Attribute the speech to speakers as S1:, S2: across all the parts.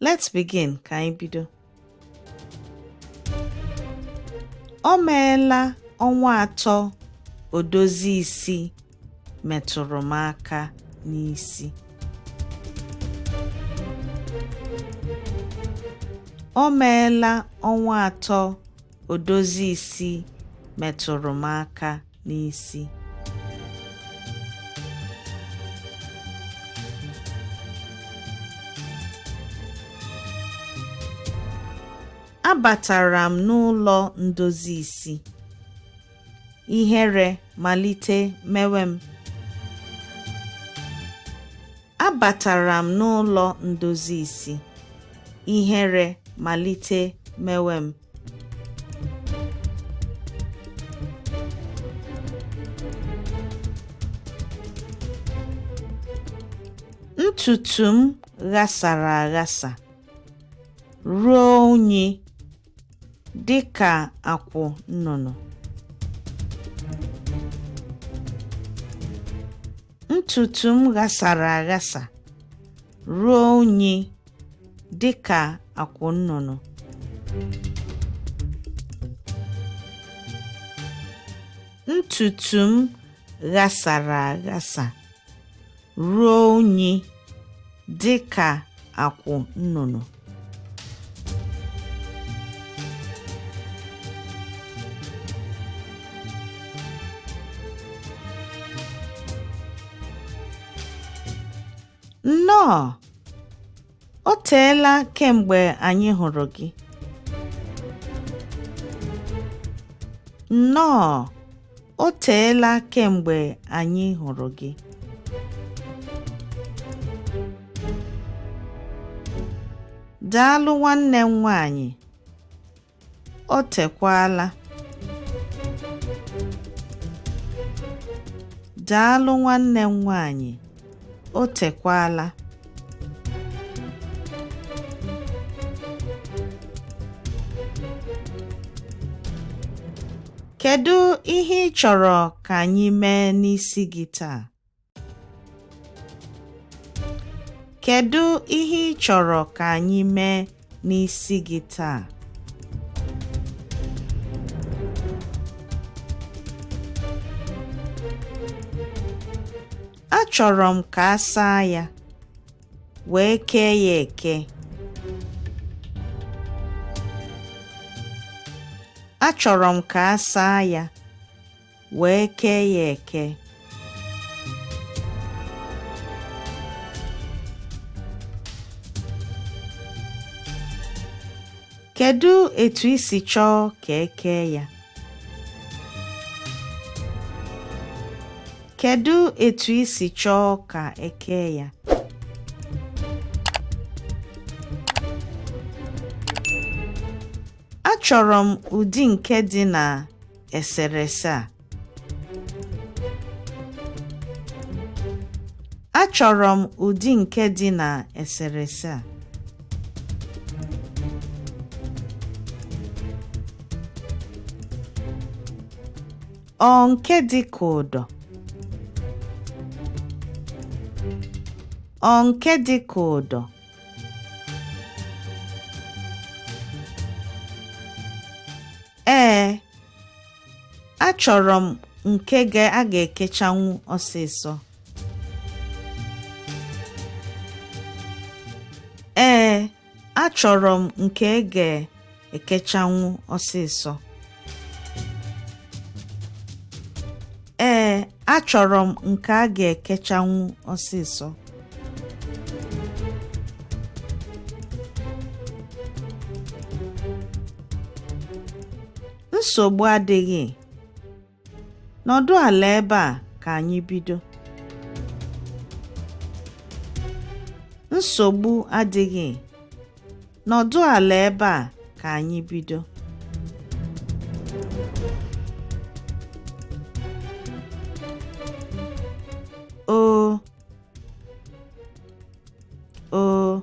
S1: Let's begin ka anyị bido. O meela ọnwa atọ odozi isi metụrụ m aka n'isi. O meela ọnwa atọ odozi isi metụrụ m aka n'isi. Abatara m n'ụlọ ndozi isi. Ihere malite mewe m. Abatara m n'ụlọ ndozi isi. Ihere malite mewe m. Ntutu m ghasara aghasa ruo unyi dị ka akwụ nnụnụ. Ntutu m ghasara aghasa ruo unyi dị ka akwụ nnụnụ. Ntutu m ghasara aghasa ruo unyi dị ka akwụ nnụnụ. Nnọọ! O teela kemgbe anyị hụrụ gị. Nnọọ! O teela kemgbe anyị hụrụ gị. Daalụ nwanne m nwaanyị. O tekwala. Daalụ nwanne m nwaanyị. O tekwala. Kedu ihe ị chọrọ ka anyị mee n'isi gị taa? Kedu ihe ị chọrọ ka anyị mee n'isi gị taa? Achọrọ m ka a saa ya, wee kee ya eke. Achọrọ m ka a saa ya. wee kee ya eke kedu etu i si chọọ ka e kee ya kedu etu i si chọọ ka e kee ya Achọrọ m ụdị nke dị na eserese a achọrọ m ụdị nke dị na eserese a ọ nke dị ka ụdọ ọ nke dị ka ụdọ Ee, achọrọ m nke a ga-ekechanwu ọsịsọ. Ee, achọrọ m nke a ga-ekechanwu ọsịsọ. achọrọ m nke a ga-ekechanwu ọsịsọ nsogbu adịghị nọdụ ala ebe a ka anyị bido nsogbu adịghị Nọdụ ala ebe a ka anyị bido. O O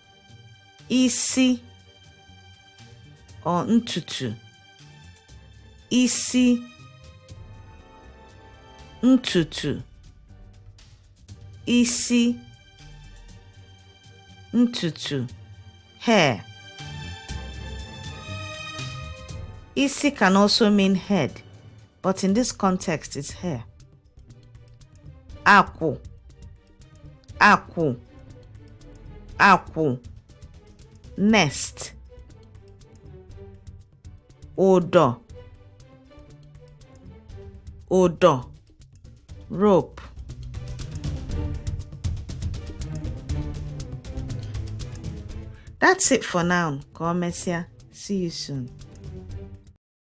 S1: isi or ntutu isi ntutu isi ntutu hair isi can also mean head but in this context it's hair akwụ akwụ akwụ nest ụdọ ụdọ rope That's it for now. Ka ọ mesịa. See you soon.